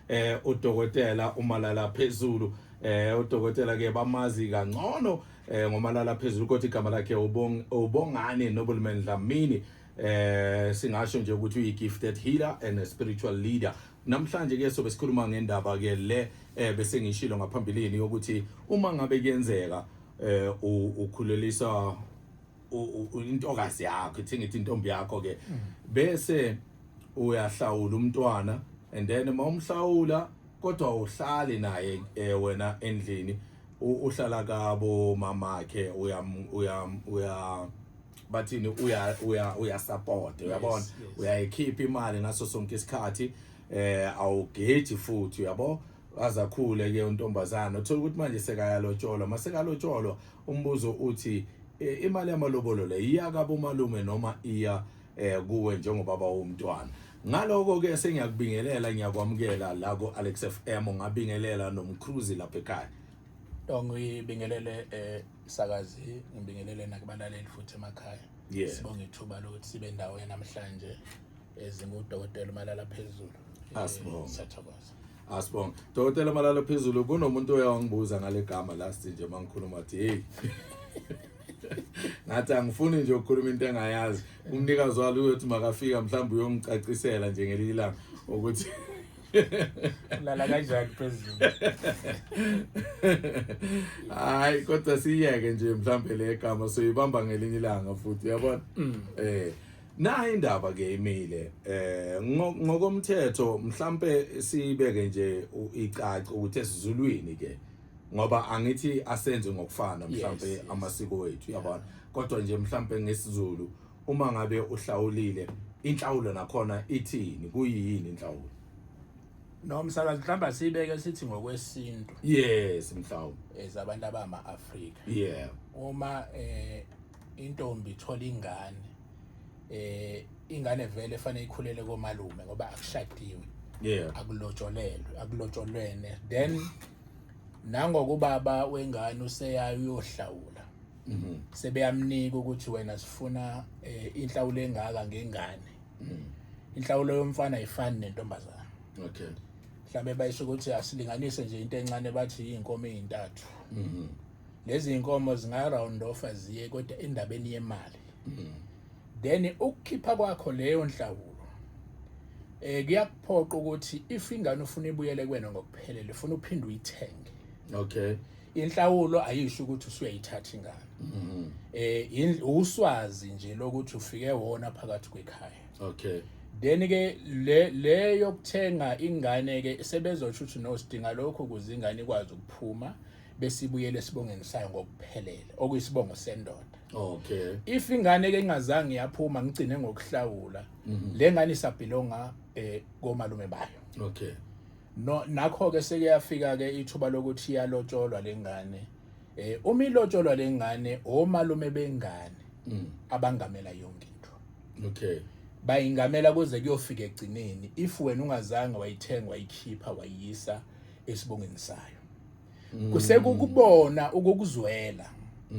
eh udokotela umalala phezulu eh udokotela ke bamazi kangcono eh ngomalala phezulu kodwa igama lakhe ubong ubongani nobulman dlamini eh singasho nje ukuthi uyi gifted healer and a spiritual leader namhlanje ke sobe sikhuluma ngendaba ke le eh bese ngishilo ngaphambilini ukuthi uma ngabe kuyenzeka eh ukhulelisa intokazi yakho ithi ngithi intombi yakho ke mm. bese uyahlawula umntwana and then uma umhlawula kodwa uhlali naye eh, wena endlini uhlala kabo mamakhe uya uya uya bathini uya uya uya support uyabona uyayikhipha imali ngaso sonke isikhathi eh awugeji futhi uyabo waze akhule ke untombazana uthola ukuthi manje sekayalotsholwa masekalotsholwa umbuzo uthi e, imali yamalobolo le iya kabo malume noma iya eh, kuwe njengobaba womntwana ngaloko ke sengiyakubingelela ngiyakwamukela la ku Alex FM ngabingelela nomcruise lapha ekhaya ngibingelele eh sakazi ngibingelele nakubalaleli futhi emakhaya sibonga ithuba lokuthi sibe ndawo namhlanje ezingudokotela umalala phezulu Asibonge. Eh, sathokoza asibonge dokotela malala phezulu kunomuntu oye wangibuza ngale gama last nje uma ngikhuluma athi heyi ngathi angifuni nje ukukhuluma into engayazi umnikazi walo uyothi makafika mhlawumbe uyongicacisela nje ngelinye ilanga ukuthi lala kanjani phezulu hayi kodwa siyeke nje mhlawumbe le gama soyibamba ngelinye ilanga futhi uyabona Mm. eh Nayi indaba ke imile eh ngokomthetho mhlambe sibeke nje icaca ukuthi esizulwini ke ngoba angithi asenze ngokufana mhlambe amasiko wethu yabona kodwa nje mhlambe ngesizulu uma ngabe uhlawulile inhlawulo nakhona ithini kuyini inhlawulo no msakazi mhlawumbe sibeke sithi ngokwesintu yes mhlawumbe ezabantu abama Africa yeah uma eh intombi ithola ingane eh ingane vele efanele ikhulele komalume ngoba akushadiwe yeah akulotsholelwe akulotsholwene then nangoku baba wengane useyayo uyohlawula mhm. sebeyamnika ukuthi wena sifuna eh, inhlawulo engaka ngengane mhm. inhlawulo yomfana ayifani nentombazana okay mhlawumbe bayisho ukuthi asilinganise nje into encane bathi iy'nkomo ey'ntathu mhm. lezi inkomo zinga round off aziye kodwa endabeni yemali mm. then ukukhipha kwakho leyo nhlawulo eh kuyakuphoqa ukuthi if ingane ufuna ibuyele kwena ngokuphelele ufuna uphinde uyithenge okay inhlawulo ayisho ukuthi usuyayithatha ingane mm-hmm. eh uswazi nje lokuthi ufike wona phakathi kwekhaya okay then ke le le yokuthenga ingane ke sebezosho ukuthi no sidinga lokho ukuze ingane ikwazi ukuphuma besibuyele esibongeni sayo ngokuphelele okuyisibongo sendoda okay if ingane ke ingazange yaphuma ngigcine ngokuhlawula mhm. le ngane isabhilonga eh komalume bayo okay no nakho ke seke yafika ke ithuba lokuthi yalotsholwa lengane eh uma ilotsholwa lengane omalume bengane mm. abangamela yonke into okay bayingamela kuze kuyofika egcineni if wena ungazange wayithenga wayikhipha wayisa esibongeni sayo Mm. kusekukubona ukukuzwela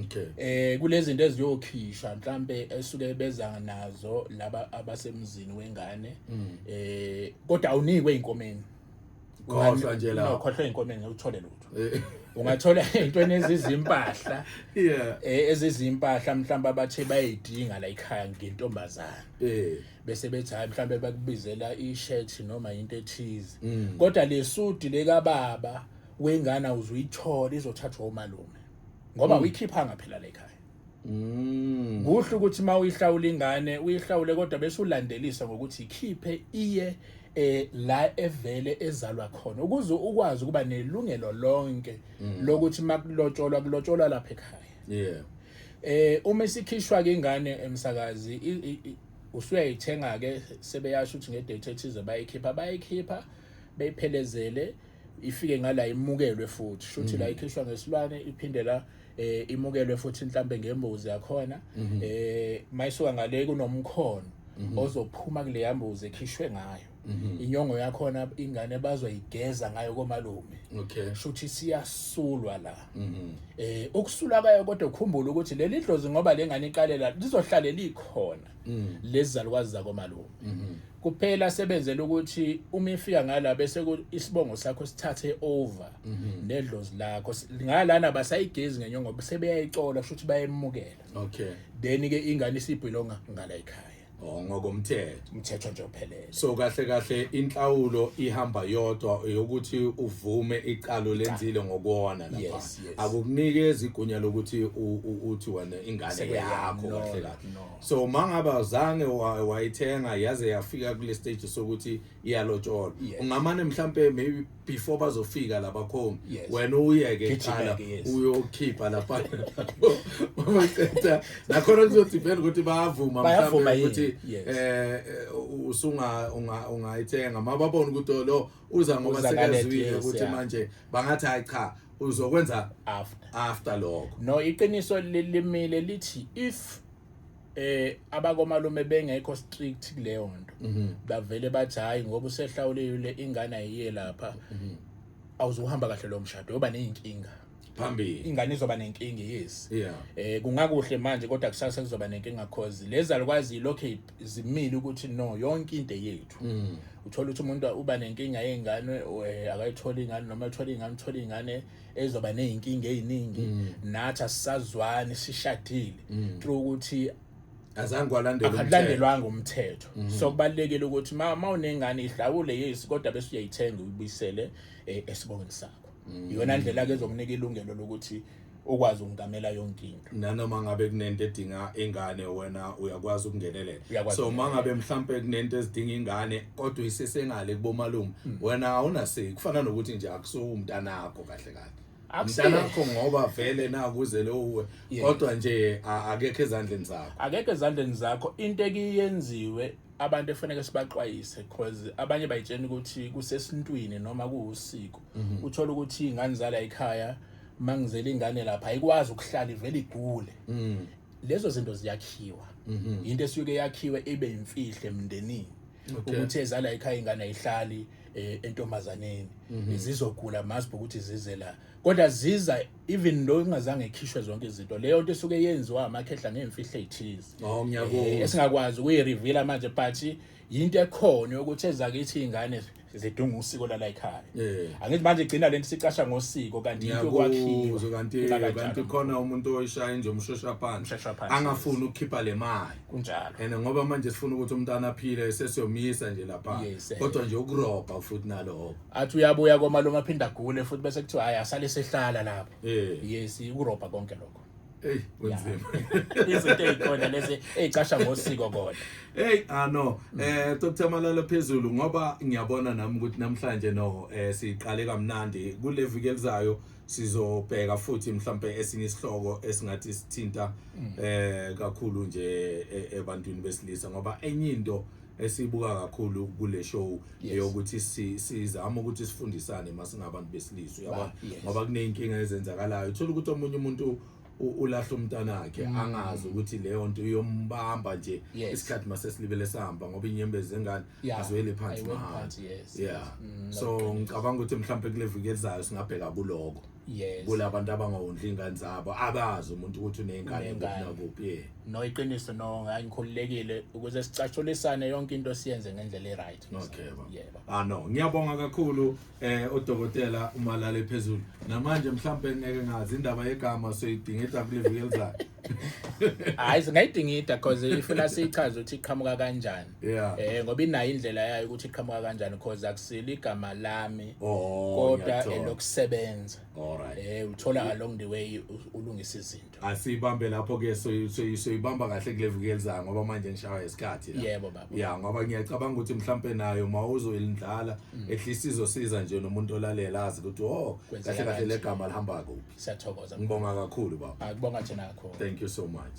okay eh kulezinto eziyokhishwa mhlambe esuke beza nazo laba abasemzini wengane mm. eh kodwa awunikwe inkomeni khohlwa nje la khohlwa inkomeni uthole lutho eh. ungathola into enezizimpahla yeah eh, ezizimpahla mhlamba abathe bayidinga la ekhaya ngentombazana eh bese bethi hayi mhlawumbe bakubizela i-shirt noma into ethize mm. kodwa le sudi lekababa wengane uzuyithola izothathwa umalume ngoba mm. uyikhiphanga phela le khaya mm. kuhle ukuthi uma uyihlawula ingane uyihlawule kodwa bese ulandelisa ngokuthi ikhiphe iye eh la evele ezalwa khona ukuze ukwazi ukuba nelungelo lonke lokuthi makulotsholwa kulotsholwa lapha ekhaya yeah Eh uma isikhishwa ke ingane emsakazi usuyayithenga ke sebeyasho ukuthi ngedate ethize bayikhipha bayikhipha beyiphelezele ifike ngala imukelwe futhi shuthi la mm. ikhishwa ngesilwane iphinde la eh imukelwe futhi mhlambe ngembuzi yakhona mm-hmm. eh mayisuka ngale kunomkhono mm-hmm. ozophuma kule yambuzi ekhishwe ngayo Mhm. inyongo yakhona ingane bazoyigeza ngayo komalume okay shuthi siyasulwa la mhm. eh ukusula kayo kodwa ukhumbula ukuthi leli dlozi ngoba lengane iqalela lizohlale likhona mm. lezizalukwazi zakomalume mhm. kuphela sebenzela ukuthi uma ifika ngala bese isibongo sakho sithathe over nedlozi lakho ngalana basayigezi ngenyongo sebeyayicola shuthi bayemukela okay then ke ingane isibhilonga ngala ekhaya Oh, ngokomthetho umthetho nje ophelele so kahle kahle inhlawulo ihamba yodwa yokuthi uvume icalo lenzile ngokuona lapha Yes, yes. akukunikezi igunya lokuthi u- u- uthi wena ingane Sekuyeyami, yakho no, kahle kahle no. so mangaba zange wa- wayithenga yaze yafika kule stage sokuthi iyalotsholwa Yes. ungamane mhlampe maybe before bazofika labakhongi yes. wena uyeke qala uyokhipha lapha maqeda nakhona kuzothi vele ukuthi bayavuma mhlawumbe ukuthi eh, eh usunga ungayithenga mababona ukuthi oh, lo uza ngoba sekazwile ukuthi manje bangathi hayi cha uzokwenza after after lokho no iqiniso limile lithi if eh abakomalume bengekho strict kuleyo nto mhm. bavele bathi hayi ngoba usehlawulile ingane ayiye lapha mhm. awuzohamba kahle lo mshado yoba nezinkinga phambili ingane izoba nenkinga yes yeah eh kungakuhle manje kodwa kusasa kuzoba nenkinga cause lezalukwazi lokho izimile ukuthi no yonke into yethu mm. uthola ukuthi umuntu uba nenkinga yengane eh, akayitholi ingane noma ethola ingane uthola ingane ezoba nezinkinga eziningi mm. nathi asisazwani sishadile mm. through ukuthi azange walandelwa umthetho mm-hmm. so kubalekile ukuthi ma unengane ihlawule yes kodwa bese uyayithenga uyibisele eh, esibongweni sakho mm. iyona ndlela ke ezokunika ilungelo lokuthi ukwazi ukungamela yonkinga nanoma ngabe kunento edinga ingane wena uyakwazi ukungenelela Uyakwazi so uma ngabe mhlampe kunento ezidinga ingane kodwa isesengale kubomalume Hmm. wena awunaseki kufana nokuthi nje akusuwu umntanakho kahle kahle Akusiye. mntanakho ngoba vele nakuzele uwe Yeah. kodwa nje a- akekho ezandleni zakho akekho ezandleni zakho into ekiyenziwe abantu efaneke sibaxwayise cause abanye bayitshena ukuthi kusesintwini noma kuwusiko uthola ukuthi ingane zala ekhaya mangizela ingane lapha ayikwazi ukuhlala ivele igule mm. lezo zinto ziyakhiwa mhm. into esuke yakhiwe ibe imfihle emndenini ukuthi ezala ekhaya ingane ayihlali eh, entombazaneni mhm. zizogula masibhe ukuthi zize la kodwa ziza even lo ingazange ikhishwe zonke izinto leyo nto esuke yenziwa amakhehla ngemfihlo ezithize oh, eh, esingakwazi ukuyireveala manje but yinto ekhona yokuthi ezakithi izingane zidunga usiko lala ekhaya eh. angithi manje igcina lento sicasha ngosiko kanti into kwakhiwa kanti kanti khona umuntu oyishaya nje umshosha phansi angafuni ukukhipha le mali kunjalo and ngoba manje sifuna ukuthi umntana aphile sesiyomisa nje lapha eh. kodwa nje ukurobha futhi naloko athi uyabuya komalume aphinda gule futhi bese kuthiwa hayi asale sehlala lapho eh. yes ukurobha konke lokho Hey kunzima. Izinto ezikhona lezi ezicasha ngosiko kodwa. Hey ah no eh Dr Malala phezulu ngoba ngiyabona nami ukuthi namhlanje no eh siqale kamnandi kule viki elizayo sizobheka futhi mhlambe esinye isihloko esingathi sithinta mm. eh kakhulu nje e-, ebantwini besilisa ngoba enye into esibuka kakhulu kule show Yes. eyokuthi si- sizama ukuthi sifundisane uma singabantu besilisa uyabona Ba- yes. ngoba kuney'nkinga ezenzakalayo uthola ukuthi omunye umuntu u- ulahla umntanakhe angazi ukuthi leyo nto iyombamba nje Mm. Yes. isikhathi masesilibele sihamba ngoba inyembezi zengane Yeah. aziweli phansi Ayiweli mahhala phansi, yes, yeah yes. Mm, so ngicabanga ukuthi mhlawumbe kule viki elizayo singabheka kuloko yes kulabantu abangawondli ingane zabo abazi umuntu ukuthi unengane kuphi kuphi eh. no iqiniso no ngikhululekile ukuze sicatshulisane yonke into siyenze ngendlela eright okay ba yebo ah no ngiyabonga kakhulu eh udokotela umalale phezulu namanje mhlambe ngeke ngazi indaba yegama soyidingida kule viki elizayo hayi singayidingida because ifuna sichaze ukuthi iqhamuka kanjani yeah eh ngoba inayo indlela yayo ukuthi iqhamuka kanjani because akusile igama lami oh, kodwa elokusebenza alright eh uthola along the way ulungisa izinto asibambe lapho ke so so ibamba kahle kule viki lizayo ngoba manje ngishawa isikhathi la yebo baba yeah ngoba ngiyacabanga ukuthi mhlambe nayo mawuzoyindlala mm. ehlisa izosiza nje nomuntu olalela azi ukuthi oh kahle kahle legama lihamba kuphi siyathokoza ngibonga kakhulu baba akubonga thina kakhulu thank you so much